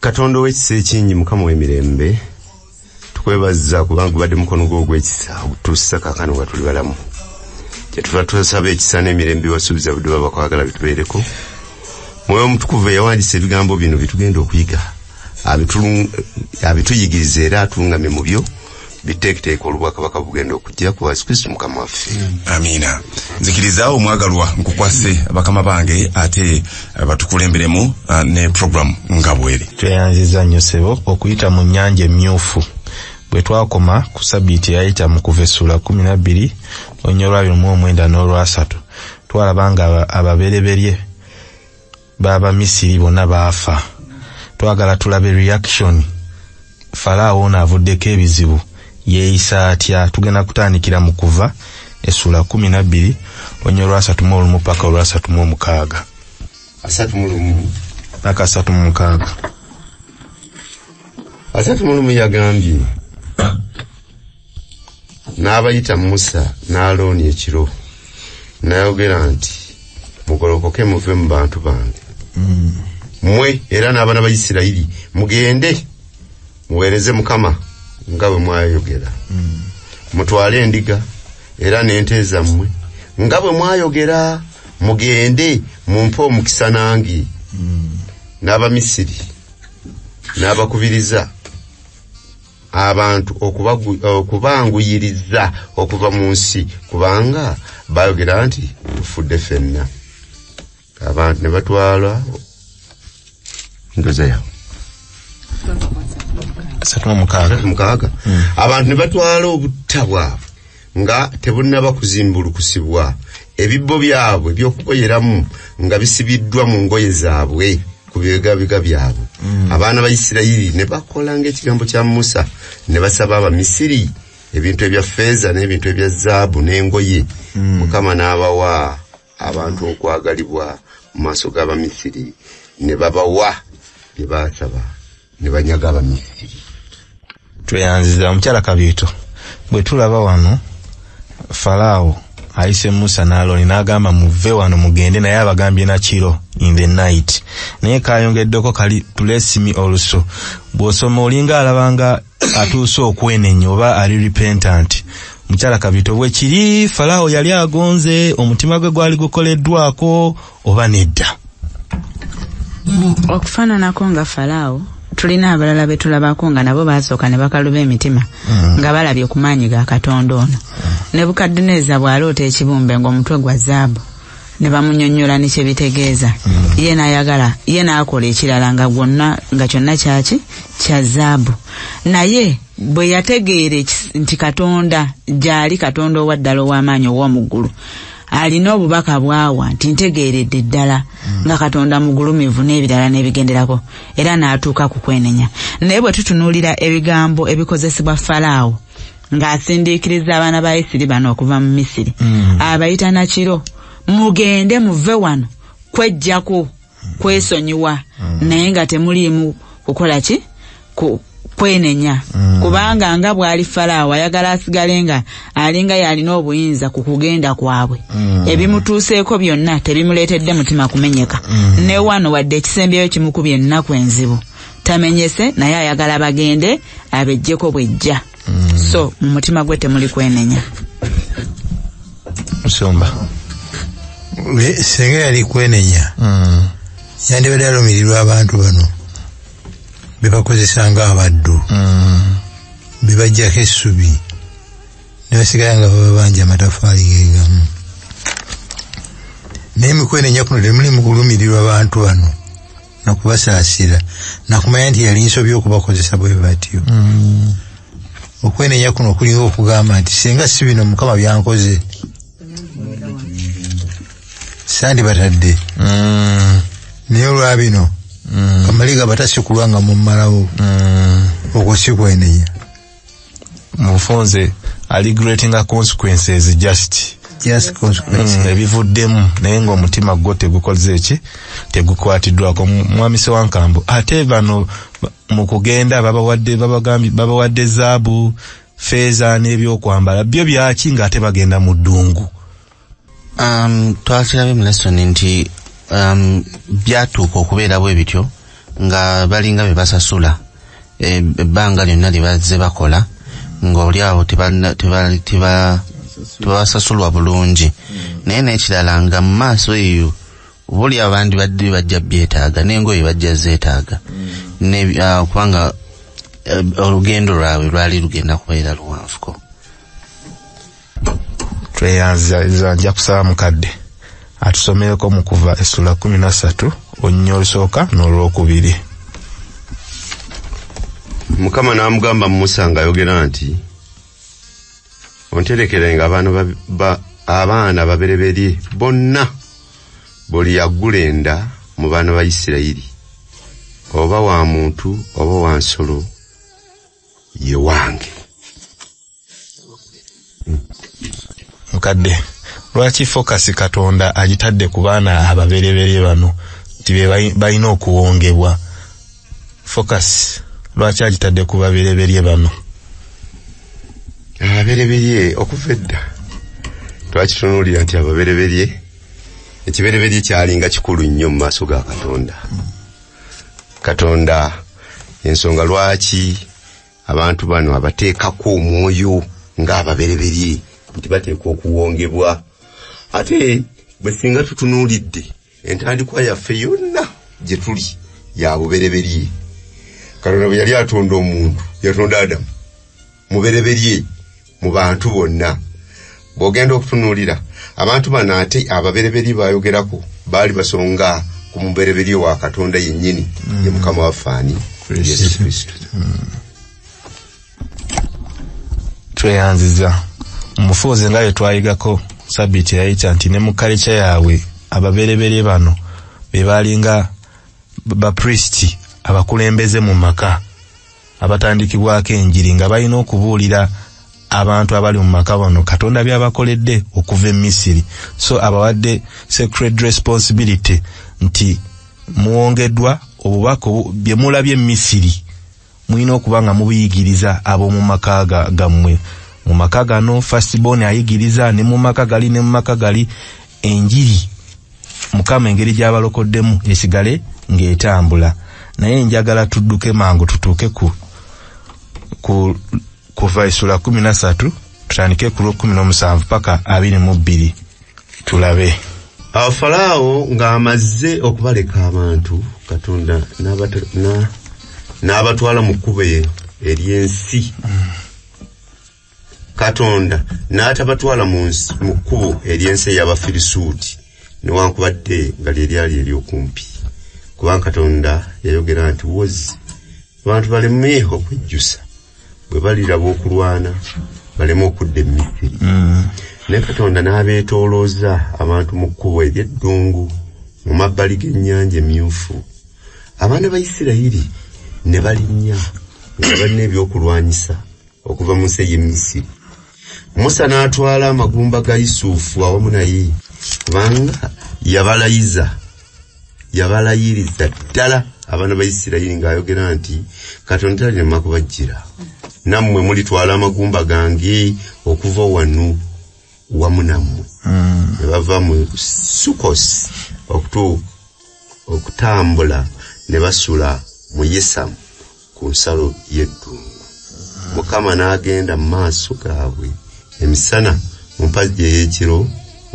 katonda owekisa ekingi mukama wemirembe tukwebaza kubanga ubadde mukono gwo ogwekisa ogutuusa kakano nga tuli balamu kyetuva tusaba ekisa n'emirembe wasuubiza budde baba kwagala bitubeereko mwoyo omutukuvu eyawandisa ebigambo bino byetugenda okuyiga abituyigiriza era atulungamye mu byo biteeketeeka olubwakabaka bugenda okujja ku yesu kristo mukama waffe amiina nzikiriza omwagalwa nkukwase bakama bange ate eh, batukulemberemu eh, ne program nga bweri tweyanziza nnyo sebo okuyita mu nyanja emmyufu bwe twakoma ku sabiiti eyayita mu kuva essula kumi nabbiri onyolwabiri mu omwenda n'olwasatu twalaba nga ababereberye aba Baba misiri bona baafa. Twagala tulabe reaction. Falaawo ono avuddeko ebizibu yeeyisa atya? Tugenda kutandikira mu kuva essuula kumi nabbiri onyo olwasatu mu olumu paka olwasatu mu omukaaga. Asatu mu lumu. Paka asatu mu mukaaga. Asatu mu lumu yagambye. n'abayita musa n'alooni ekiro n'ayogera nti mugolokoke muve mu bantu bange mm. mwe era n'abaana ba isirayiri mugende muweereze mukama nga bwe mwayogera mm. mutwale endiga era n'ente zammwe nga bwe mwayogera mugende mumpe omukisa nange mm. n'abamisiri n'abakubiriza abantu okubanguyiriza okuva mu nsi kubanga baayogera nti tufudde fenna abantu ne batwala ndoza yawe mukaaga hmm. abantu ne batwala obutta bwabwe nga tebunnaba kuzimbulukusibwa ebibbo byabwe by'okukoyeramu nga bisibiddwa mu ngoye zaabwe ku bibegabiga byabwe mm. abaana ba isirayiri ne bakola ng'ekigambo kya musa ne basaba abamisiri ebintu ebya feeza n'ebintu ebya zaabu n'engoye mm. mukama n'abawa abantu okwagalibwa mu maaso g'abamisiri ne babawa bye baasaba ne banyaga abamisiri tweyanziza omukyala kabiito bwe tulaba wano falaawo ayise musa naaloni n'agamba muve wano mugende naye abagambye nakiro in the night naye kayongeddeko kali tulesimi oluso bw'osoma olinga alabanga atuuse okwenenya oba ali repentant mukyala kabito bwe kiri falaawo yali agonze omutima gwe gwali gukoleddwako oba nedda okufaananako nga falaawo tulina abalala be tulabako nga nabo baasooka ne bakaluba emitima mm. nga balabye ku maanyi ga katonda ono mm. nebukadduneeza bw'aloota ekibumbe ng'omutwe gwa zaabu ne bamunyonnyola ne kye bitegeeza mm. ye n'ayagala ye n'akola ekirala nga gwonna nga kyonna kyaki kya zaabu naye bwe yategeere nti katonda gyali katonda owaddala ow'amaanyi ow'omuggulu alina obubaka bwawa nti ntegeeredde ddala mm. nga katonda mugulumivu n'ebirala n'ebigenderako era n'atuuka ku kwenenya naye bwe tutunuulira ebigambo ebikozesebwa falaawo ng'asindiikiriza abaana ba isiri bano okuva mu misiri mm. abayita nakiro mugende muve wano kwejjako mm. kwesonyiwa mm. naye nga temuliimu kukola ki kwenenya mm. kubanga nga bwali falaawo ayagala asigale nga alinga yalina obuyinza ku kugenda kwabwe mm. ebimutuuseeko byonna tebimuleetedde mutima kumenyeka mm. ne wano wadde ekisembyeyo kimukubye ennaku enzibu tamenyese naye ayagala bagende abejjeko bwejja mm. so mu mutima gwe temuli kwenenya musumba senga yali kwenenya mm. yandibadde alumirirwa abantu bano bebakozesa nga abaddu mm. bebajjako essubi nebasigala nga bababanja amatafaali gegamu naye mikwenenya kuno temuli mukulumirirwa bantu bano nakubasaasira nakumanya nti yali nsobi okubakozesa bwe batyo mm. okwenenya kuno okulinga okugamba nti singa si bino mukama byankoze sandi batadde mm. naye olwa bino mm. kamaliga batasikulwa nga mumalawo okwo si kwenenya mufunze ali greatinga consequences just just consequences mm, ebivuddemu naye nga omutima gwo tegukoze eki tegukwatiddwako mwami sewankambo ate bano mu kugenda babawadde babagambye babawadde zaabu feeza n'ebyokwambala byo byaki ng'ate bagenda mu ddungu um, twakirabye mu lesson nti um, byatuuka okubeera bwe bityo nga balinga be basasula e, ebbanga lyonna lye bazze bakola ng'olyawo tebabasasulwa bulungi naye n'ekirala nga mu maaso eyo buli abandi badde bajja byetaaga n'engoye bajja zeetaaga uh, kubanga uh, olugendo lwabwe lwali lugenda kubeera luwanvuko tweyanziza nja kusaba mukadde atusomereko mu kuva essula kumi na ssatu olunya olusooka n'olwokubiri mukama n'amugamba musa ng'ayogera nti onterekerenga abaana ba, abaana babereberye bonna buli yaggula enda mu baana ba isirayiri oba wa muntu oba wa nsolo ye wange mukadde lwaki fokasi katonda agitadde ku baana ababereberye bano nti be balina okuwongebwa fokasi lwaki agitadde ku babereberye bano ababereberye okuva edda twakitunuulira nti ababereberye ekibereberye kyalinga kikulu nnyo mu maaso ga katonda mm. katonda ensonga lwaki abantu bano abateekako omwoyo ng'ababereberye nti bateekwa okuwongebwa ate bwe singa tutunuulidde entandikwa yaffe yonna gye tuli ya bubereberye katonda bwe yali atonda omuntu yatonda adamu mubereberye mu bantu bonna bw'ogenda okutunuulira abantu bano ate ababereberye bayogerako baali basonga ku mubereberye wa katonda yennyini ye mm. mukama waffe ani yesu kristo mm. tweyanziza mufuuzi nga bye twayigako sabiiti eyayita nti ne mu kalica yaabwe ababereberye bano be baalinga baprisiti abakulembeze mu maka abatandikibwako enjiri nga balina okubuulira abantu abali mu maka bano katonda byabakoledde okuva e misiri so abawadde sacred responsibility nti muwongeddwa obubaka bye mulabye e misiri mulina okuba nga mubiyigiriza ab'omu maka gammwe mu maka gano fastbon ayigiriza ne mu maka gali ne mu maka gali enjiri mukama engeri gyabalokoddemu esigale ng'etambula naye njagala tudduke mangu tutuuke ku ku kuva esula kumi na satu tutandike ku lwokumi n'omusanvu paka abiri mu bbiri tulabe awo falaawo ng'amazze okubaleka abantu katonda n'abatwala mu kkubo ery'ensi mm. katonda n'atabatwala mu nsi mu kkubo ery'ensi ey'abafirisuuti newankubadde nga lye lyali ery'okumpi kubanga katonda yayogera nti wozi abantu baleme okujjusa bwe baliraba okulwana baleme okudda emisiri mm. ne katonda n'abeetoolooza abantu mu kkubo ery'eddungu mu mabbali g'ennyanja emyufu abaana ba isirayiri ne balinnya nga balina ebyokulwanyisa okuva mu nsi ey'e misiri musa n'atwala amagumba ga yusufu awamu naye kubanga yabalayiza yabalayiriza ddala abaana ba isirayiri ng'ayogera nti katonda talinema kubajjira nammwe mulitwala amagumba gange okuva wanu wamu nammwe hmm. ne bava mu sukos okutuuka okutambula ne basula mu yesamu ku nsalo y'eddungu mukama n'agenda mu maaso gaabwe emisana mu mpagi ey'ekiro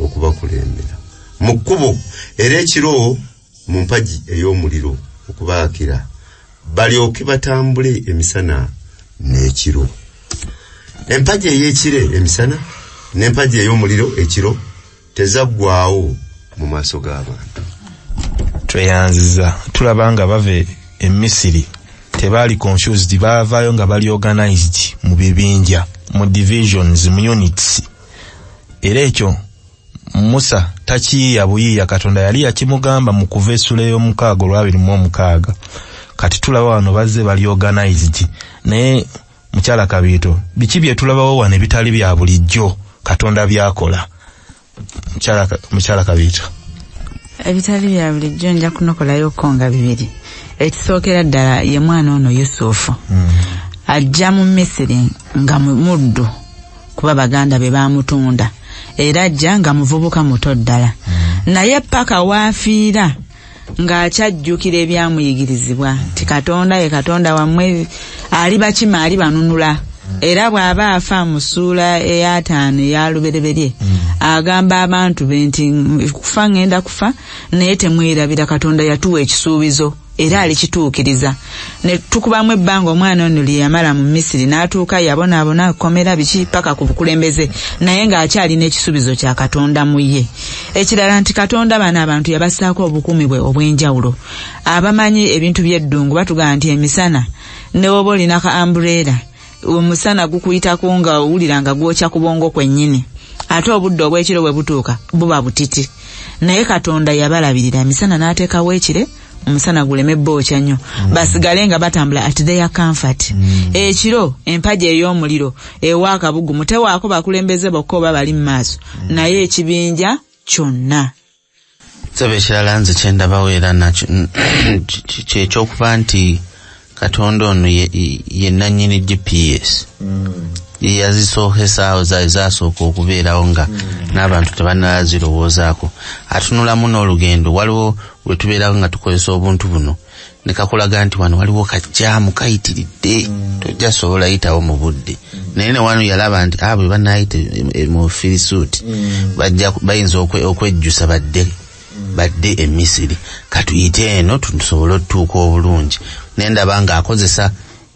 okubakulembera mu kkubo era ekiro mu mpagi ey'omuliro okubaakira balyoke batambule emisana n'ekiro empagi ey'ekire emisana n'empagi ey'omuliro ekiro tezaggwaawo mu maaso g'abantu tweyanziza tulaba nga bava e, e misiri tebaali confused baavaayo nga bali organized mu bibinja mu divisions mu units era ekyo musa takiyiya buyiiya katonda yali yakimugamba mu kuva essula ey'omukaaga olwabiri mu omukaaga kati tulaba wano bazze bali organized naye mukyala kabiito biki byetulabawo wano ebitali bya bulijjo katonda byakola mukyala kabiito ebitali bya bulijjo nja kunokolayo ko nga bibiri ekisookera ddala ye mwana ono yusufu hmm. ajja mu misiri nga muddu kuba baganda be bamutunda era ajja nga muvubuka muto ddala hmm. naye paka waafiira ng'akyajjukira ebyamuyigirizibwa nti katonda ye katonda wammwe ali bakima ali banunula era bw'aba afa mu ssuula ey'ataano eya lubereberye mm. agamba abantu be nti kufa ŋŋenda kufa naye temwerabira katonda yatuwa ekisuubizo era alikituukiriza ne tukubamu ebbanga omwana ono lye yamala mu misiri n'atuuka yabonaabona kkomera biki paka ku bukulembeze naye ng'akyalina ekisuubizo kya katonda mu ye ekirala nti katonda bano abantu yabassaako obukuumi bwe obw'enjawulo abamanyi ebintu by'eddungu batugamba nti emisana ne woba olinako ambureera omusana gukuyitako nga owulira nga gwokya ku bwongo kwennyini ate obudde obw'ekiro bwe butuuka buba butiti naye katonda yabalabirira emisana n'ateekawo ekire omusana guleme bookya nnyo mm. basigale nga batambula at their comfort mm. ekiro empaji ey'omuliro ewa akabugumu tewaako bakulembeze bokka oba bali mu maaso mm. naye ekibinja kyonna sebo ekirala nze kyendabawo era nakyo kyekyokuba nti katonda ono yenanyini gps mm. yazisoohesaawo zaali zasooka okubeerawo nga mm. n'abantu tebanala zirowoozaako atunulamu n'olugendo waliwo wetubeerawo nga tukozesa obuntu buno ne kakulaga nti wano waliwo kajjaamu kayitiridde mm. tojja sobola yitawo mu budde naye ne wano yalaba nti abo ah, bwe banaayita mu firisuuti mm. bayinza okwejjusa badde mm. badde e misiri katuyite eno tusobole otutuuka obulungi naye ndaba ng'akozesa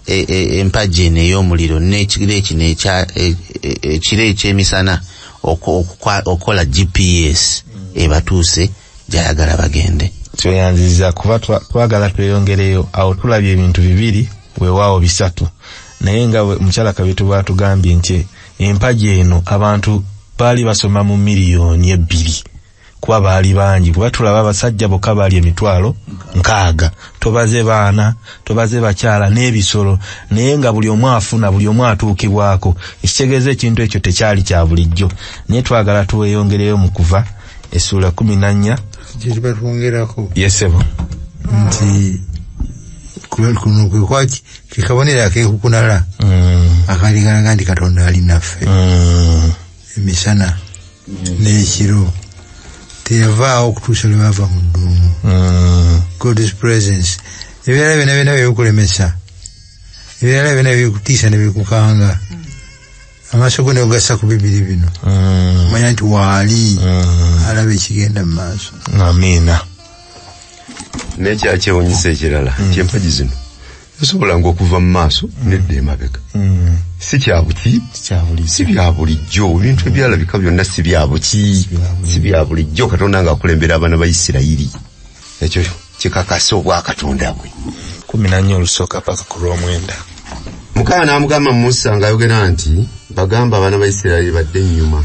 e, e, empagi eno ey'omuliro n'ekiro ekino e, ekiro eky'emisana okukola gps ebatuuse gyayagala bagende tweyanziza kuba twagala tweyongereyo awo tulabye ebintu bibiri wewaawo bisatu naye nga mukyala kabitu bwatugambye nti empagi eno abantu baali basoma mu miliyoni ebbiri kuba baali bangi kuba tulaba abasajja bokka baali emitwalo nkaaga tobaze baana tobaze bakyala n'ebisolo naye nga buli omu afuna buli omu atuukibwako ekitegeeza ekintu ekyo tekyali kya bulijjo naye twagala tuweyongereyo mu kuva essuula kumi na nnya kyekibatwongerako yesebo nti kuno kwekwaki kekabonero akekukunala mm. akali kalaga nti katonda ali naffe mm. emisana n'ekiro teyavaawo okutuusa lwe baava mu dduumu mm. god's presence ebirala byona byona byebikulemesa ebirala byona byebikutiisa nebikukanga amaaso go negasa ku bibiri bino mm. manya nti waali mm. alaba ekigenda mu maaso amiina nekyakyewunyisa ekirala mm. kyempagi zino esobola nga okuva mu maaso nedda emabega si kyabuki si bya bulijjo ebintu ebyalabika byonna si byabuki si bya bulijjo katonda ngaakulembera abaana ba isirayiri ekyo kikakasa obwa katonda bwe kumi nanya olusooka paka ku lwomwenda mukama n'amugamba musa ng'ayogera nti bagamba abaana ba isirayiri badde ennyuma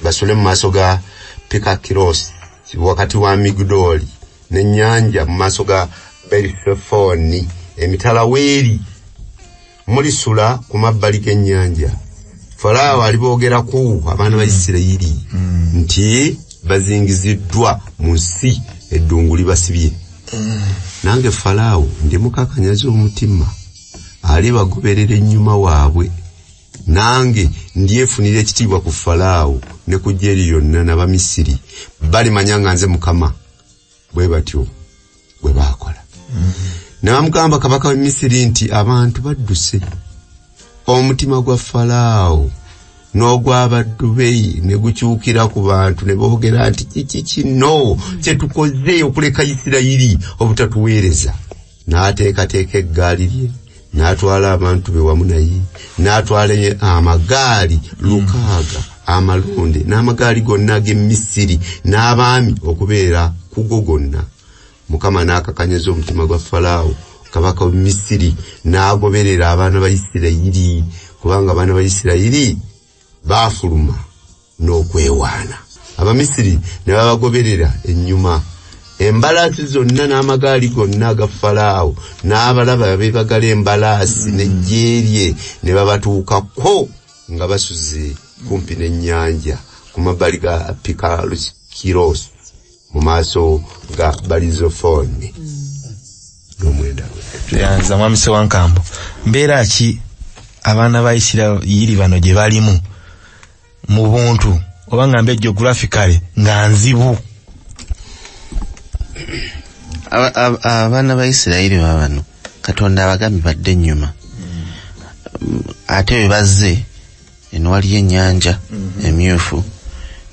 basule mu maaso ga pikakirosi wakati wa migudooli n'ennyanja mu maaso ga berifefoni emitala weeri mulisula ku mabbali g'ennyanja falaawo aliboogeraku abaana ba isirayiri nti bazingiziddwa mu nsi eddungu libasibye nange falaawo ndimukakanyaza omutima alibagoberera ennyuma waabwe nange ndyefunira ekitiibwa ku falaawo ne ku jeri lyonna nabamisiri balimanya nga nze mukama bwe batyo bwe baakola n'amugamba kabaka w'e misiri nti abantu badduse omutima gwa falaawo n'ogw'abaddu be ne gukyukira ku bantu ne boogera nti kiki kino kye tukoze okuleka isirayiri obutatuweereza n'ateekateeka eggaali lye n'atwala abantu be wamu naye n'atwala amagaali lukaaga amalonde n'amagaali gonna ag'e misiri n'abaami okubeera kugo gonna mukama n'akakanyaza omutima gwa falaawo kabaka w'e misiri n'agoberera abaana ba isirayiri kubanga abaana ba isirayiri baafuluma n'okwewaana abamisiri ne babagoberera ennyuma embalaasi zonna n'amagaali gonna aga falaawo n'abalaba beebagala embalaasi mm. n'ejjeerye ne babatuukako nga basuze kumpi n'ennyanja ku mabbali ga pikalusi kiroosi mu maaso ga balizo fone nomwenda nze mwami sewankambo mbeera ki abaana ba isirairi bano gye balimu mu buntu oba nga mbe geographicale nga nzibu abaana ba isirairi babano katonda abagambi badde ennyuma mm. ate bwe bazze eno waliyo ennyanja mhm. emyufu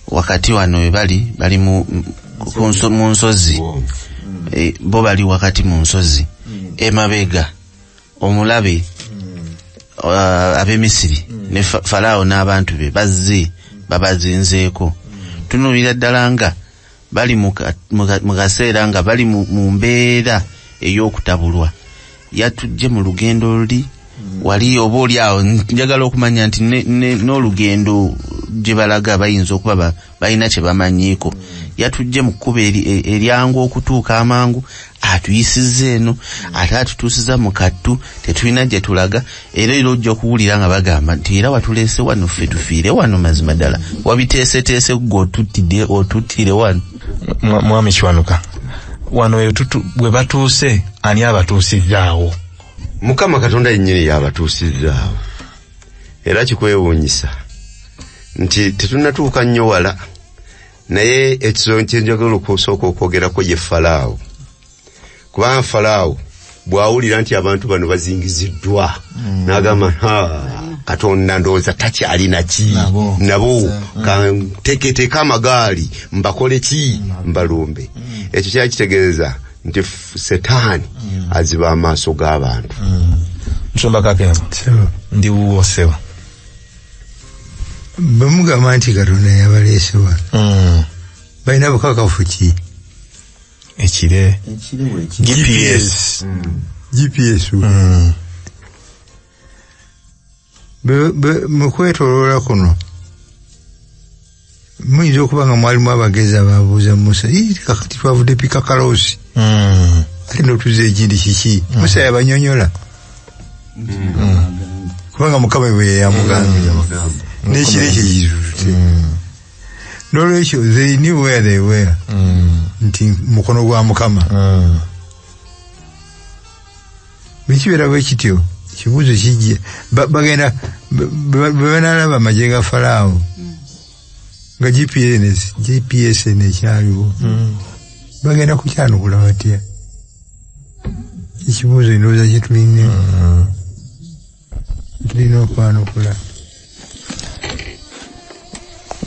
wakati wano webali bali mu nsozi eh, bo bali wakati mu nsozi mm. emabega omulabe mm. uh, abemisiri mm. ne falaawo n'abantu be bazze babazinzeeko tunuulira ddala nga bali mu ka- mu ka- mu kaseera nga bali mu mu mbeera ey'okutabulwa yatujje mu lugendo luli wali oba oli awo njagala okumanya nti ne- ne- n'olugendo gye balaga bayinza okuba ba- balina kye bamanyiiko yatujje mu kkubo eri- e- eryangu okutuuka amangu atuyisizza eno ate atutuusiza mu kattu tetulina gye tulaga era era ojja okuwulira nga bagamba nti era watuleese wano ffe tufiire wano mazima ddala wabiteeseteese gwe otuttide otuttire wano mwami kiwanuka wano bwe batuuse ani abatuusizzaawo mukama katonda yennyini y'abatuusizzaawo era kikwewuunyisa nti tetunatuuka nnyo wala naye ekizonyo kyenjagala okusooka okwogerako ye falaawo kubanga falaawo bwawulira nti abantu bano bazingiziddwa mm. nagamba katonda ndowooza takyalina ki nabo mm. kanteketeeka amagaali mbakole ki mm. mbalumbe ekyo kyali kitegeeza nti setaani aziba amaaso g'abantu nsomba kakema ndiwuwo seba bamugamba nti katonda yabaleese wa hmm. balina bukakafu ki ekire gps gps hmm. mukwetoloola kuno muyinza okuba nga mwalimu abagezi ababuuza musa kakati twavudde pikakalosi hmm. ate notuza ekindi kiki hmm. musa yabanyonyola kubanga mukama bwe yeyamugambira nekiro ekyo kizutute nolwekyo they knew where they were nti mukono gwa mukama bwekibeera bwe kityo ekibuuzo kijje bagenda bwe banaalaba amagye ga falaawo hmm. nga gps gps nekyaliwo hmm. bagenda kukyanukula batya ekibuuzo endowooza kyetulina hmm. tulina okwanukula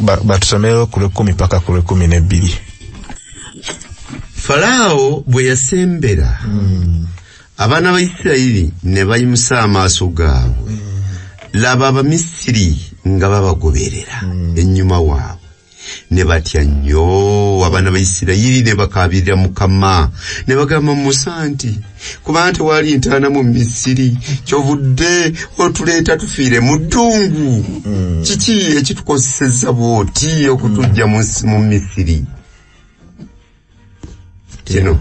batusomewo ku lwekumi paka ku lwekumi nebbiri falaawo bwe yasembera hmm. abaana ba isirayiri ne bayimusa amaaso gaabwe hmm. laba abamisiri nga babagoberera hmm. ennyuma waabwe ne batya nnyo abaana ba isirayiri ne bakaabirira mukama ne bagamba musa nti kubanga tewali ntaana mu misiri kyovudde otuleeta tufiire mu ddungu mm. kiki ekitukozeseza bwoti okutujja mu misiri kino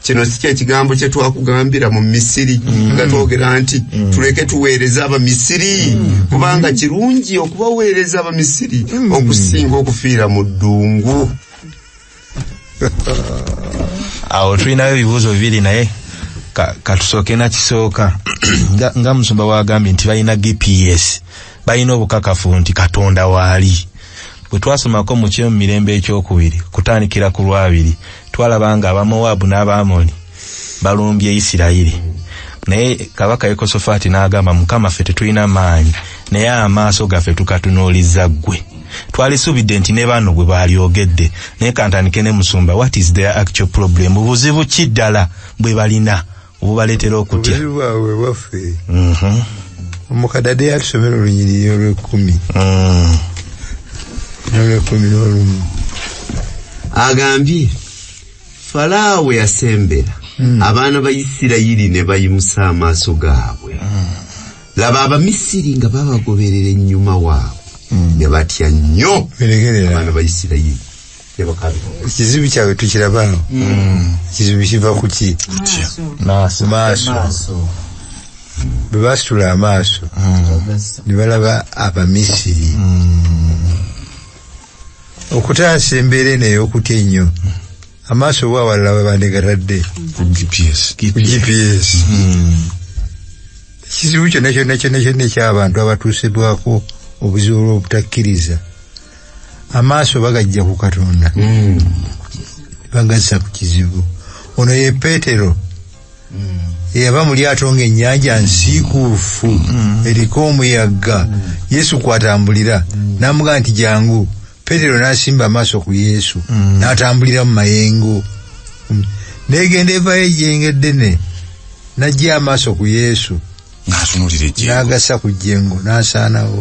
kino si kyekigambo kyetwakugambira mu misiri mm. nga twogera nti mm. tuleke tuweereza abamisiri mm. kubanga kirungi okubaweereza abamisiri okusinga okufiira mu ddungu awo tulinayo ebibuuzo bibiri naye katusooke nakisooka nga musumba wagambye nti balina gps balina obukakafu nti katonda waali bwe twasomako mu kyo mu mirembe ekyokubiri kutandikira ku lwabiri twalaba nga abamowaabu n'abaamoni balumbye isirayiri naye kabaka yekosofaati n'agamba mukama ffe tetulina maanyi naye amaaso gaffe tukatunuuliza ggwe twalisuubidde nti ne bano bwe baalyogedde naye kantandike ne musumba what is their actual problem buzibu ki ddala bwe balina bubaletera okutya obuliri bwabwe bwaffe mhm. omukadade yatusomera olunyiriri olwekumi mm. nolwekumi nolumu agambye falaawo yasembera mm. abaana ba isirayiri ne bayimusa amaaso gaabwe mm. laba abamisiri nga babagoberera ennyuma waabwe ne batya nnyo abaana ba isirayiri ekizibu kyabwe tukiraba no mm. ekizibu kiva kuki maaso bwe basitula amaaso mm. ne balaba abamisiri mm. okutaasa embeera eno ey'okutya ennyo amaaso oba awalala babandegatadde ku gps ekizibu kyonna kyonna kyonna kyonna ekyabantu abatuusibwako obuzibu olw'obutakkiriza amaaso bagajja ku katonda hmm. bagassa ku kizibu ono ye petero hmm. eyava mu lyato nga ennyanja nsiikuufu hmm. eriko omuyaga yesu kwatambulira namuga nti jangu petero nasimba amaaso ku yesu natambulira mu mayengo negenda evayo ejengedene najja amaaso ku yesu n'atunulira ejjengo n'agasa ku jjengo n'asaanawo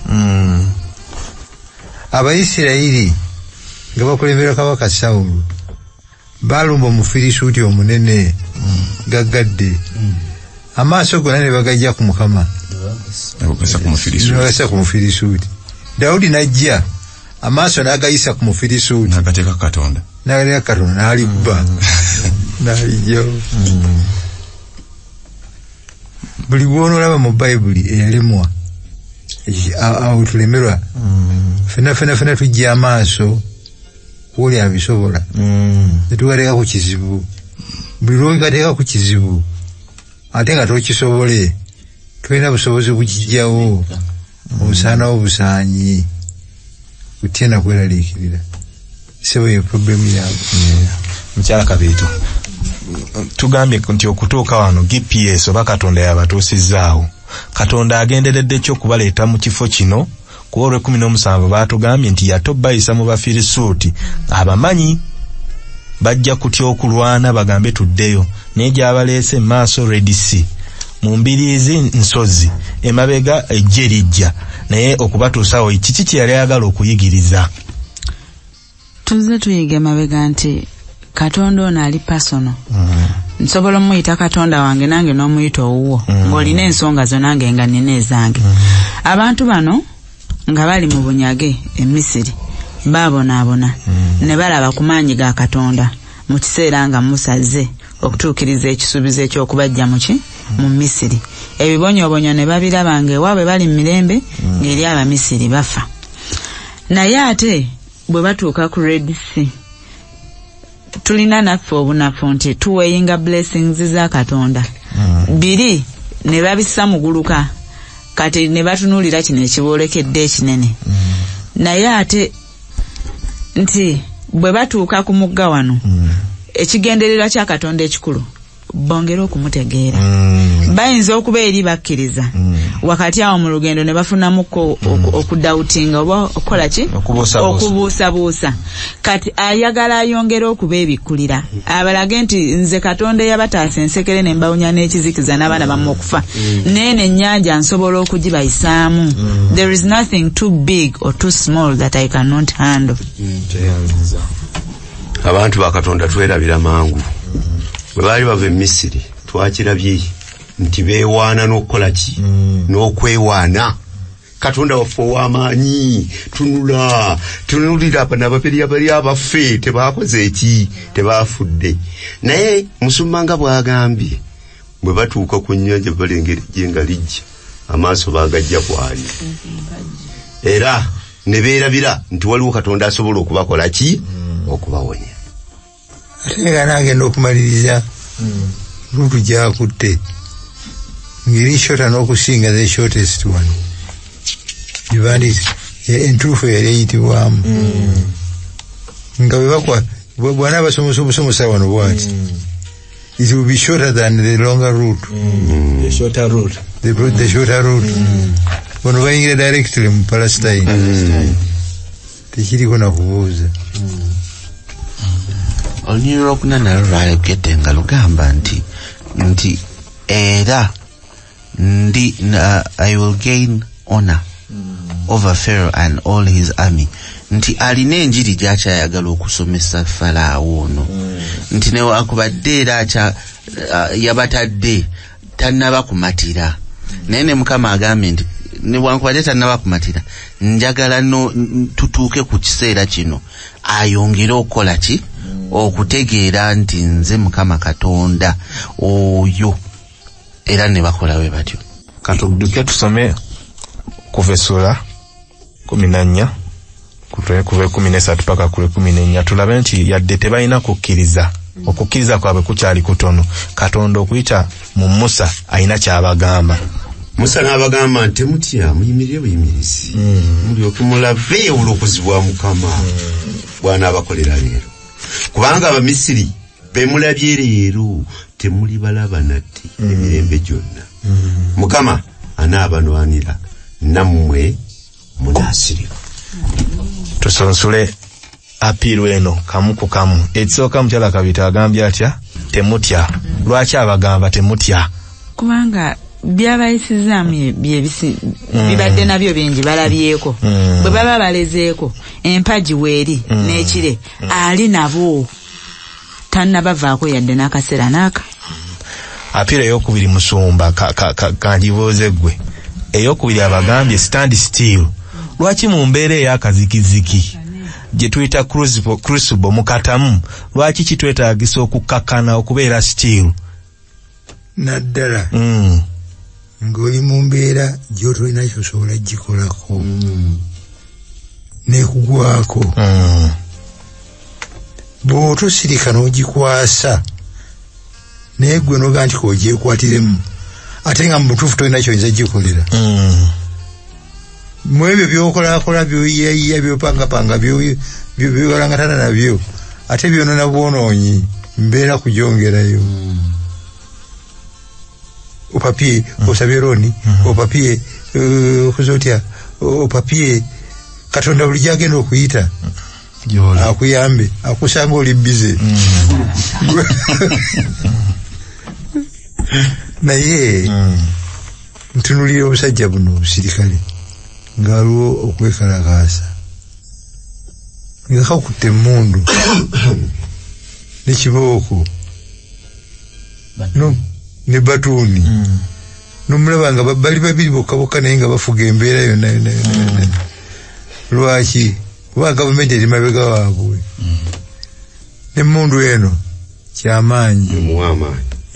hmm. abayisirayiri nga bakulembera kabaka sawulo baalumba omufirisuuti omunene hmm. gaggadde hmm. amaaso gona ne bagajja ku mukama nebagasa ku mufirisuuti dawudi n'ajja amaaso n'agayisa ku mufirisuuti n'agateeka katonda n'agateeka katonda n'alibba n'alijjawo buli gwonolaba mu bayibuli eyalemwa awo tulemerwa mm. fena fena fena tujja amaaso woli abisobola mm. netugateeka ku kizibu buli lwogateeka ku kizibu ate nga tokisobole tulina busobozi bukijjawo obusaana obusaanyi otya nakweraliikirira sebo ye problemu yaabwe mukyala kabiito tugambye nti okutuuka wano gps oba katonda yabatuusizzaawo katonda agenderedde ki okubaleeta mu kifo kino kuba olwekumi n'omusanvu baatugambye nti yate obayisa mu bafirisuuti abamanyi bajja kutya okulwana bagambe tuddeyo naye gyabaleese maaso redc mu mbiriizi nsozi emabega ejje lijja naye okubatuusawo kiki kye yali ayagala okuyigiriza tuzze tuyiga emabega nti katonda ono ali pasono mm. nsobola omuyita katonda wange nange n'omuyita owuwo mm. ng'olina ensonga zo nange nga nina ezange mm. abantu bano nga bali mu bunyage e misiri baabonaabona ne balaba ku maanyi ga katonda mu kiseera nga musazze okutuukiriza ekisuubizo eky'okubaggya muki mu misiri ebibonyoobonyo ne babiraba nga ewaabwe bali mu mirembe mm. ng'eri abamisiri bafa naye ate bwe batuuka ku red sea tulina naffe obunafu nti tuweyinga blessings za katonda mm. biri ne babissa muguluka kati ne batunuulira kino ekiboolekedde ekinene mm. naye ate nti bwe batuuka ku mugga wano mm. ekigendererwa kya katonda ekikulu bongere okumutegeera mm. bayinza okuba eri bakkiriza mm. wakati awo mu lugendo ne bafunamuko mm. okudawutinga oba okukola ki okubuusabuusa kati ayagala ayongere okuba ebikkulira abalage nti nze katonda eyabataasa ensekere ne mbawunya n'ekizikiza n'abaana bamu mm. okufa mm. neeno ennyanja nsobola okugibayisaamu mm. there is nothing too big or too small that i cannot handle abantu bakatonda twerabira mangu bwe baali bava e misiri twakirabye nti beewaana n'okukola ki n'okwewaana katonda waffe ow'amaanyi tunula tunulira bano ababiri abali abaffe tebaakoze eki tebaafudde naye musumba nga bw'agambye bwe batuuka ku nnyanja balengera ejje nga lijja amaaso baagajja kwali era ne beerabira nti waliwo katonda asobola okubakola ki okubawonya ate nga nagenda okumaliriza lutu gyakutte ngeri shota n'okusinga the shortest one ebandis entuufu yali eyitibwamu mm. nga bwebakwa bwana abasomosa obusomosa wano bwati mm. it will be shorter than the longer route. Mm. The shorter route. The, the shorter route. Mm. When we directly in Palestine. Mm. Palestine. tekiriko nakubuuza olunyiri lwokuna nalo lwayogedde nga lugamba nti nti era ndi uh, i will gain honor mm. over pharaoh and all his army nti alina enjiri gyakyayagala okusomesa falaawo ono mm. nti newakubadde era uh, yabatadde tannaba kumatira naye ne mukama agambye nti newankubadde tannaba kumatira njagala tutuuke ku kiseera kino ayongere okukola ki okutegeera nti nze mukama katonda oyo era ne bakola we batyo katuduke tusome kuva essula kumi na nnya kuva ekumi nesatu paka ku ekumi nenya tulabe nti yadde tebalina kukkiriza okukkiriza kwabwe kukyali kutono katonda okuyita mu musa alina kyabagamba musa n'abagamba nti temutya muyimirire buyimirizi hmm. mulyoke mulave obulokozi bwa mukama hmm. bwanaabakolera leero kubanga abamisiri bemulabye leero temuli balaba nati mm. emirembe gyonna mm. mukama anaabanwanira nammwe munaasirimu tusunsule apiiru eno kamu ku kamu ekisooka mukyala kabita agambye atya temutya lwaki abagamba temutya kubanga byabayisizaamu mm. bibadde nabyo bingi balabyeko mm. bwe baba balezeeko empagi weeri mm. n'ekire ali nabo tannabavaako yadde n'akaseera n'aka mm-hmm. apiira eyokubiri musumba kanjibuuze ggwe eyokubiri abagambye stand still lwaki mu mbeera ey'akazikiziki gye tuyita crucible mukatamu lwaki kitwetaagisa okukkakkana okubeera still naddala mm. ng'oli mu mbeera gyotolina kyosobola gikolako mm. nekugwako mm. bwotosirika n'ogikwasa naye gwe noga nti kogyekwatire mu ate nga mubutuufu tolina kyoyinza gikolera mm. mwebyo byokolakola byoyiyayiya byopangapanga byobalangatana nabyo ate byonona bwonoonyi mbeera kujongerayo mm. opapye mm. osabye roni mm-hmm. opapye eh, okuza otya opapye katonda buli gyagenda okuyita mm. akuyambe akusanga oli bize mm. naye mm. ntunulira obusajja buno obusirikale nga waliwo okwekalakaasa nga kakutte emmundu nekibooko ne batuuni hmm. nomulaba nga bali babiri bokka bokka naye nga bafuga embeera yonna yona yona hmm. lwaki kuba gavumenti eri mabega waabwe hmm. emmundu eno kyamaanyi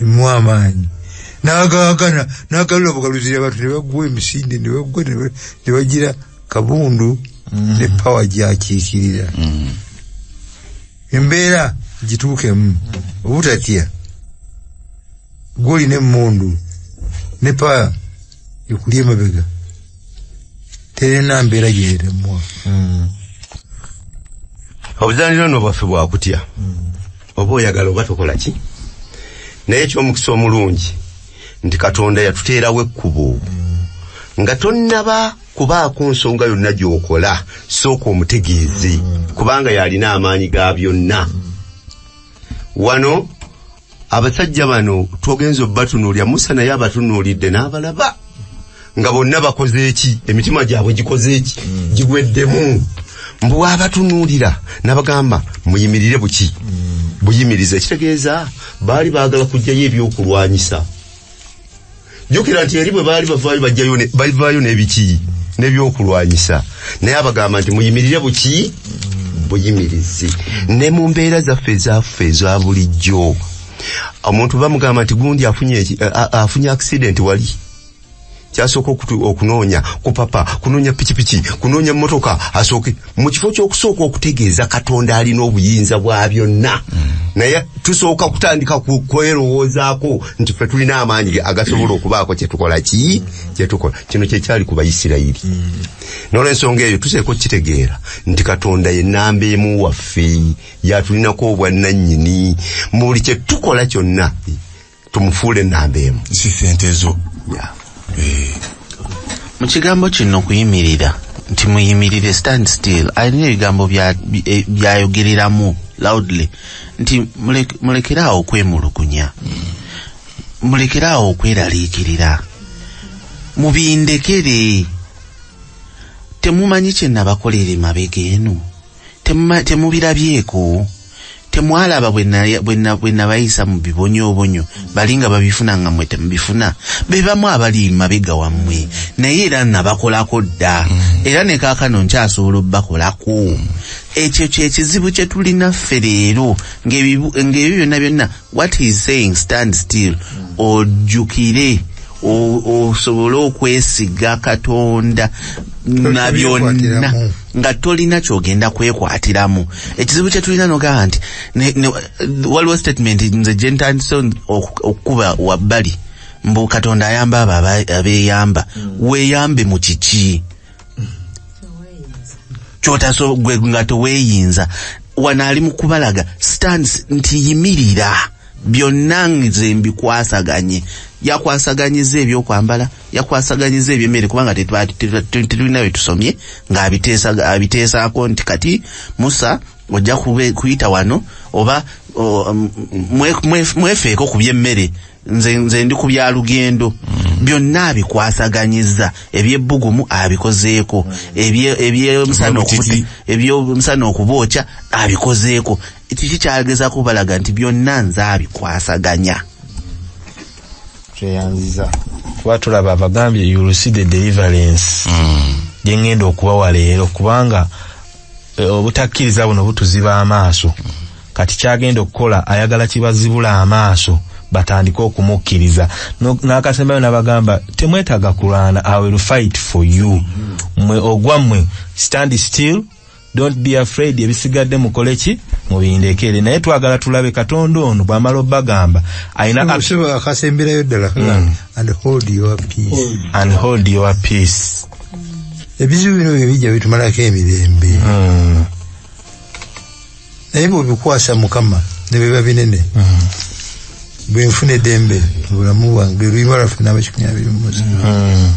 emu amaanyi nagawagana nagalula obugaluzira abantu nebagwa emisinde nebagwa nebagira kabundu mm. ne pawa gyakiikirira mm. embeera gituukemu obutatya gwolina emmundu ne pawa ekuli emabega terina mbeera gyeremwa hmm. obuzanira no bwaffe bwakutya hmm. oba oyagala oba tokola ki naye ekyomukisa omulungi nti katonda yatuteerawo ekkubo hmm. nga tonnaba kubaako nsonga yonna gyokola sooka omutegeeze kubanga yalina amaanyi ga byonna wano abasajja bano twogenza obatunuulira musa naye abatunuulidde n'abalaba nga bonna bakoze eki emitima gyabwe gikoze eki mm. gigweddemu mbu abatunuulira nabagamba muyimirire buki mm. buyimiriza ekitegeeza baali baagala kujjayo ebyokulwanyisa jukira nti eri bwe baali bavaayo bajjayo bavaayo n'ebiki n'ebyokulwanyisa naye abagamba nti muyimirire buki buyimirizi ne mu mbeera zaffe ezaffe eza bulijjo omuntu bamugamba nti gundi afunye afunye accident wali kyasooka okunoonya kupapa kunoonya pikipiki kunoonya mmotoka asooke mu kifo ky'okusooka okutegeeza katonda alina obuyinza bwa byonna naye tusooka kutandika kwerowoozaako nti fe tulina amaanyi agasobola okubaako kyetukola ki kyetukola kino kyekyali ku baisirayiri nolwensonga eyo tuseeko kukitegeera nti katonda ye namba emu waffe yatulinako obwannanyini mu buli kyetukola kyonna tumufuule enamba emu si sente zo yeah. eh. mu kigambo kino kuyimirira nti muyimirire stand still alina ebigambo eh, byayogereramu loudly nti mulekere awo okwemulugunya mulekere awo okweraliikirira mubindekere temumanyi kyenabakolera emabega eno temubirabyeko temwalaba bwe nabayisa mu bibonyoobonyo bali nga babifuna nga mwe temubifuna be bamu abali mabega wammwe naye era nabakolako dda mm. era ne kaakano nkyasobola obubakolako ekyo kyekizibu kye tulina ffe leero ng'ebyo byonna byonna what he is saying stand still ojjukire osobole okwesiga katonda na byonna nga tolina kyogenda kwekwatiramu ekizibu kyetulina nogamba nti waliwo statement nze gyentandise okukuba wabbali mbu katonda ayamba abo abeyamba mm. weyambe mu kiki kyotaso gwe nga teweyinza wano ali mu kubalaga stands nti yimirira byonna nze mbikwasaganye yakwasaganyiza ebyokwambala yakwasaganyiza ebyemmere kubanga tetulina wetusomye ng'abiteesaako nti kati musa ojja kuyita wano oba mwefeeko ku byemmere nze nze ndi ku bya lugendo byonna abikwasaganyizza ebyebbugumu abikozeeko ebye- ebyemisana okubuti- ebyemisana okubookya abikozeeko kiki kyageza kubalaga nti byonna nze abikwasaganya tweyanziza kuba tulaba abagambye you will see the deliverance gyengenda okubawa leero kubanga eh, obutakkiriza buno butuziba amaaso Kati ky'agenda okukola ayagala kibazibule amaaso batandike okumukkiriza n'akasembayo n'abagamba temwetaaga kulwana i will fight for you mwe ogwa mmwe stand still don't be afraid ebisigadde mukole ki mubindekere naye twagala tulabe katonda ono bw'amala obagamba alinaakasemberayo ddala hmm. and hold your peace and hold your peace ebizibu bino bye bijja bitumalako emirembe hmm. naye bwebikwasa mukama nebiba binene mm. bwenfuna edembe mubulamu bwange lwibalaffe nabakikunya biri mumuzi mm.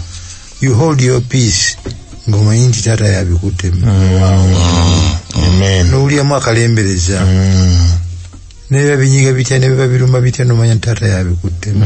you hold your peace ngomanyi nti taata yabikuttemu mm. nowulyamu akalembereza nebiba binyiga bitya nebiba biruma bitya nomanya nti taata yabikuttemu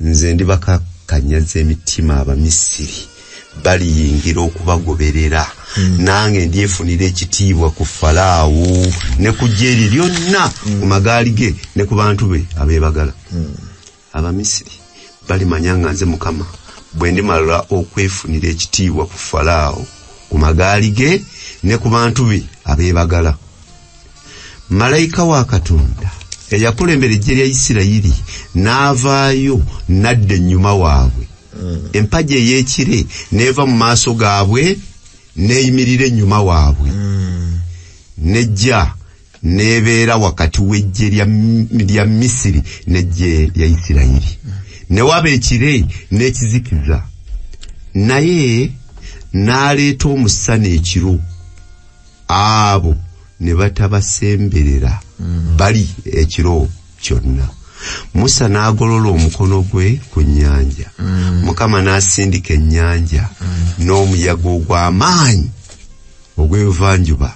nze ndibakakanyaza emitima abamisiri baliyingira okubagoberera hmm. nange ndyefunira ekitiibwa ku falaawo ne ku jeri lyonna hmm. ku magaali ge ne ku bantu be abeebagala hmm. abamisiri balimanya nga nze mukama bwe ndimala okwefunira ekitiibwa ku falaawo ku magaali ge ne ku bantu be abeebagala malayika wa katonda eyakulembera ejje lya isirayiri n'avaayo nadda ennyuma waabwe hmm. empagi ey'ekire n'eva mu maaso gaabwe n'eyimirira ennyuma waabwe hmm. nejja n'ebeera wakati w'ejje lya misiri n'ejje lya isirayiri hmm. ne waba ekire n'ekizikiza naye n'aleeta omusana ekiro abo ne batabasemberera mm. bali ekiro kyonna musa n'agolola omukono gwe ku nnyanja mm. mukama n'asindika ennyanja mm. n'omuyaga ogw'amaanyi ogw'evanjuba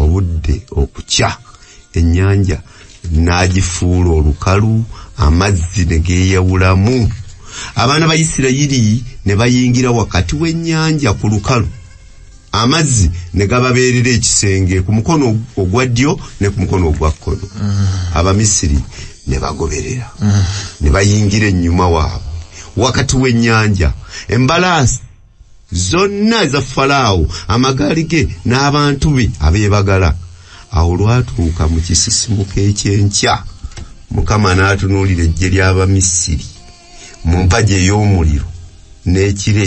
obudde okukya ennyanja n'agifuula olukalu amazzi ne geeyawulamu abaana ba isirayiri ne bayingira wakati w'ennyanja ku lukalu amazzi ne gababeerera ekisenge ku mukono ogwa ddyo ne ku mukono ogwa kkono mm. abamisiri ne bagoberera mm. ne bayingira ennyuma waabwe wakati w'ennyanja embalaasi zonna eza falaawo amagaali ge n'abantu be abeebagala awo lwatuuka mu kisisimuka ekyenkya mukama n'atunuulira eggye ly'abamisiri mu mpagi ey'omuliro n'ekire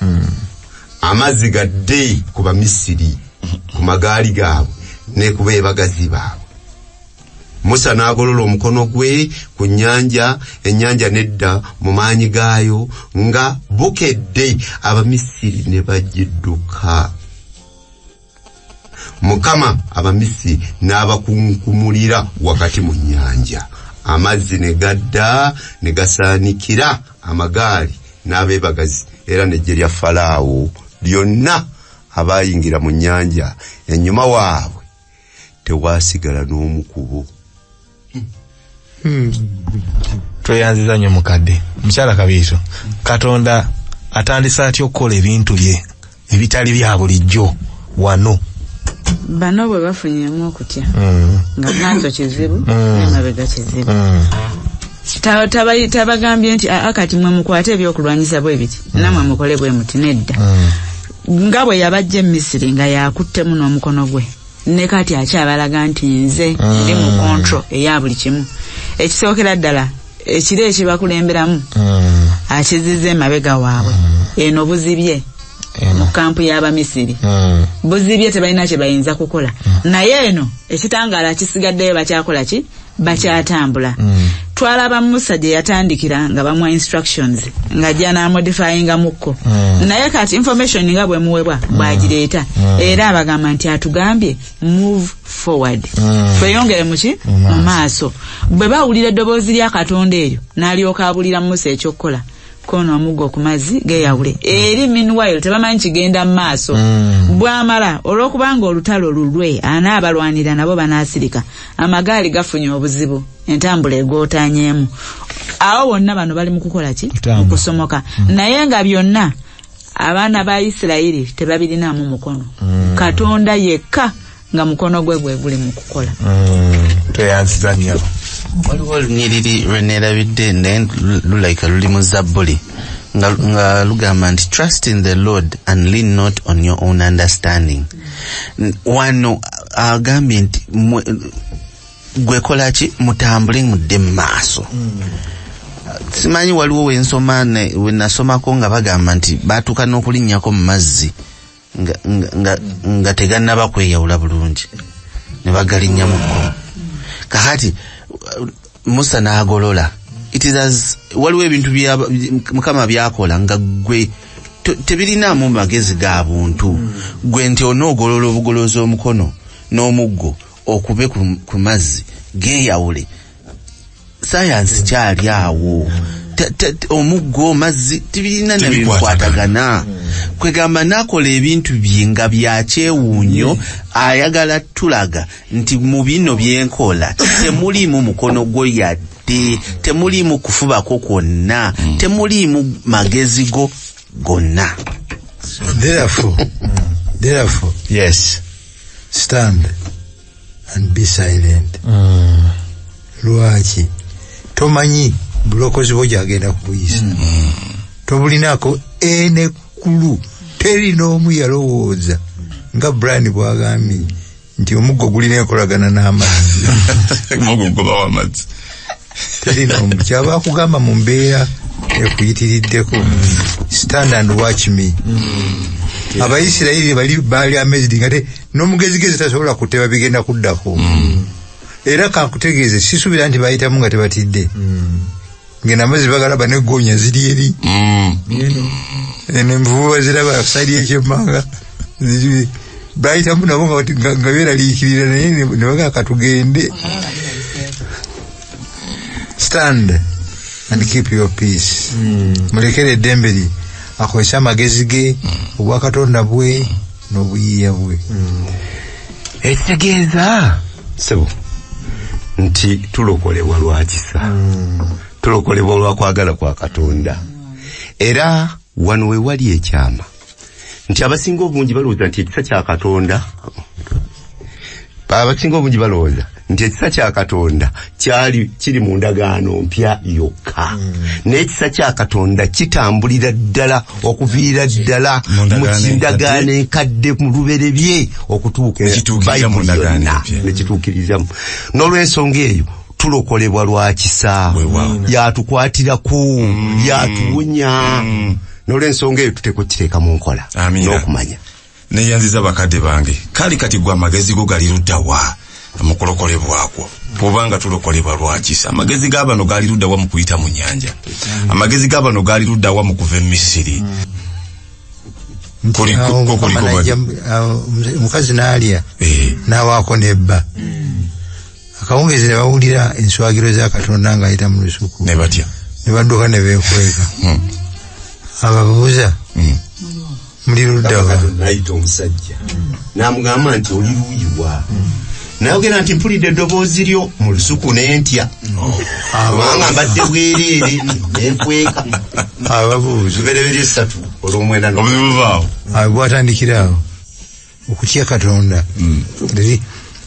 hmm. amazzi gadde ku bamisiri ku magaali gaabwe ne ku beebagazi baabwe musa n'agolola omukono gwe ku nnyanja ennyanja nedda mu maanyi gaayo nga bukedde abamisiri ne bagidduka mukama abamisi n'abakunkumulira wakati mu nnyanja amazzi ne gadda ne gasaanikira amagaali n'abeebagazi era n'eggye lya falaawo lyonna abaayingira mu nnyanja ennyuma waabwe tewaasigala n'omu kubo tweyanziza nnyo mukadde mukyala kabiito katonda atandise atya okukola ebintu bye ebitali bya bulijjo wano bano bwe bafunyemu okutya mm. nga maaso kizibu mm. emabega kizibu mm. tabagambye nti aa kati mwe mukwate ebyokulwanyisa bwe biti mm. namwe mukole bwe muti nedda mm. nga bwe yabajja emisiri nga yakuttemu n'omukono gwe ne kati akyabalaga nti nze ndi mu mm. control eya buli kimu ekisookera ddala ekiro ekibakulemberamu mm. akiziza emabega waabwe mm. eno buzibye mu kampu y'abamisiri buzibye tebalina kye bayinza kukola naye eno ekitangaala kisigaddeyo bakyakola ki bakyatambula mm. twalaba musa gye yatandikira nga bamuwa instructions nga janamodifyinga mukko mm. naye kati information nga bwemuwebwa mm. bwagireeta mm. era abagamba nti atugambye move forward mm. tweyongere muki mu maaso bwe bawulira eddoboozi lya katonda eryo n'alyoka abulira musa ekyokukola kono amuggo ku mazzi geyawule eri meanwhile tebamanyi kigenda mu maaso mm. bwamala olwokubanga olutalo lulwe anaabalwanira nabo banaasirika amagaali gafunye obuzibu entambula egootanyeemu awo bonna bano bali mu kukola ki okusomoka mm. naye nga byonna abaana ba isirayiri tebabirinaamu mukono mm. katonda yekka nga mukono gwe gwe guli mu kukola mm, tweyanziza nnyo waliwo olunyiriri lwe neerabidde naye lulaika luli mu zabbuli nga, nga lugamba nti trust in the lord and lean not on your own understanding wano agambye nti gwekola ki mutambule mudde mu maaso mm. simanyi waliwo wensoma wenasomako nga bagamba nti batuuka n'okulinnyako mu mazzi nga, nga, nga, nga tegannaba kweyawula bulungi ne bagalinya mu kkubo kakati musa n'agolola it is as waliwo ebintu bya- by- mukama byakola nga gwe to- tebirinaamu magezi ga buntu gwe nti onoogolola obugolozi omukono n'omuggo okube ku, ku mazzi geeyawule sayansi kyali awo omuggo mazzi tibirina nabikwatagana kwegamba nakola ebintu bye nga byakyewuunyo ayagala tulaga nti mu bino byenkola temuliimu mukono gwo yadde temuliimu kufubako kwonna hmm. temuliimu magezi go gonna therefore, therefore, yes. stand and be silent mm. lwaki tomanyi bulokozi bwo gyagenda kubuyisa mm. mm. tobulinako enekulu teri n'omu yalowooza nga brian bwagambye nti omuggo gulina enkolagana n'amazzi kyaba akugamba mu mbeera ekuyitiriddeko stand and watch me mm. abaisirairi bali baali amazed nga te n'omugezigezi tasobola kuteba bigenda kuddako mm. era kankutegeeze sisuubira nti bayitamu nga tebatidde mm. ngena amazzi bagala banegonya ziri eri envuba ziraba saidi ekyemanga bayitamu nabo nga beraliikirira naye nebagaa katugende stand and keep your peace hmm. mulekere eddembe lye akozese amagezi ge hmm. obwakatonda bwe n'obuyiiya bwe hmm. ekitegeeza sebo nti tulokolebwa lwakisa tulokolebwa olwakwagala kwa katonda era wano wewali ekyama nti abasinga obungi balowooza nti ekisa kya katonda abasinga obungi balowooza nti ekisa kya katonda kyali kiri mu ndagaano mpya yokka hmm. naye ekisa kya katonda kitambulira ddala okuviira ddala mu kindagaano enkadde mu luberebye okutuuka bayibuli yonna nekituukirizamu n'olwensonga eyo tulokolebwa lwa kisa yatukwatira ku mm. yatuwonya mm. nolwensonga eyo tuteekwa okukiteeka mu nkola n'okumanya neyanziza bakadde bange kali kati gwe amagezi go gali luddawa mukulokolebwakwo kubanga tulokolebwa lwakisa amagezi g'abano gaali luddawa mu kuyita mu nyanja mm. amagezi g'abano gaali luddawa mu kuva e misiri omukazi naalya eh. nawaako nebba akawungezi ne bawulira enswagiro za katonda ng'ayita mu lusuku ne batya ne badduka ne beekweka hmm. ababuuza hmm. muli luddawa nayita omusajja namugamba nti oli luuyiwa hmm. nayogera nti mpulidde eddoboozi lyo mu lusuku nentya abanga mbadde bwereere nenkweka ababuuza lubereberye satu olwomwenda gwatandikiraawo okutya katonda mm.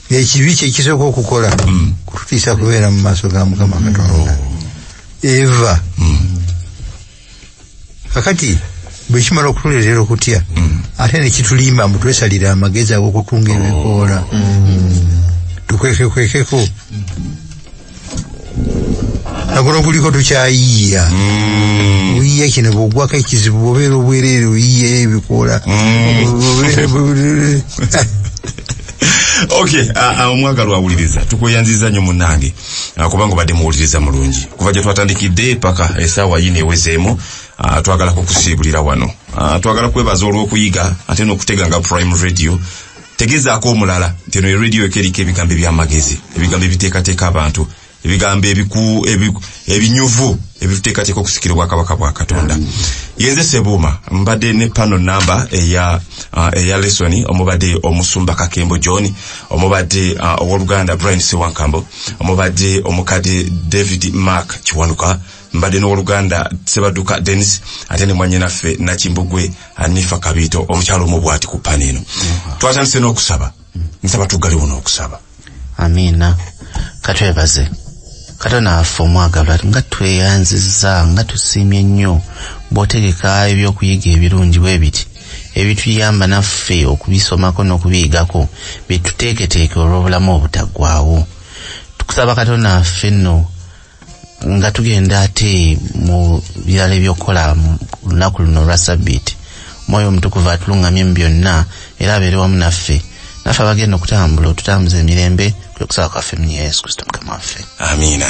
ekibi kyekisooka okukola mm. kututiisa kubeera mu maaso ga mukama katonda oh. eva mm. kakati bwekimala okutuleetera okutya ate nekitulimba mbu twesalira amagezi agokutunga ebikoola oh. tukwekekwekeko nakuno kuliko tukyayiya mm. oyiya kino bwogwako ekizibu bobeera obwereere oyiya ebikoola mm. okay omwagalwa uh, uh, awuliriza tukweyanziza nyo munange uh, kubanga obadde muwuliriza mulungi kuva gye twatandikidde paka esaawa yini ewezeemu twagala kukusiibulira wano twagala kwebaza olw'okuyiga ate n'okutega nga prime radio tegezaako omulala nti eno eradio eko eriko ebigambo ebyamagezi ebigambo ebiteekateeka abantu ebigambo ebinyuvu ebituteekateeka okusikira obwakabaka bwa katonda yenze sebuuma mbadde ne pano namba eya uh, lesoni omubadde omusumba kakembo john omubadde uh, owoluganda brian sewankambo omubadde omukadde david mark kiwanuka mbadde n'owoluganda sebaduka denis ate ne mwanyinaffe nakimbugwe anifa kabiito omukyalo omu bwati ku pani eno mm-hmm. twatandise n'okusaba nsaba tuggaliwo n'okusaba amiina katwebaze katonda waffe omwagalwa nga tweyanziza nga tusiimye nnyo bw'otegeka ebyokuyiga ebirungi bwe biti ebituyamba naffe okubisomako n'okubiyigako byetuteeketeeke olw'obulamu obutaggwawo tukusaba katonda waffe nno nga tugenda ate mu birala ebyokukola lunaku luno olwa sabbiiti omwoyo omutukuvu atulungamye mu byonna era abeere wamu naffe naffe abagenda okutambula otutambuza emirembe kwe kusaba kwaffe mu yesu kristo mukama waffe amiina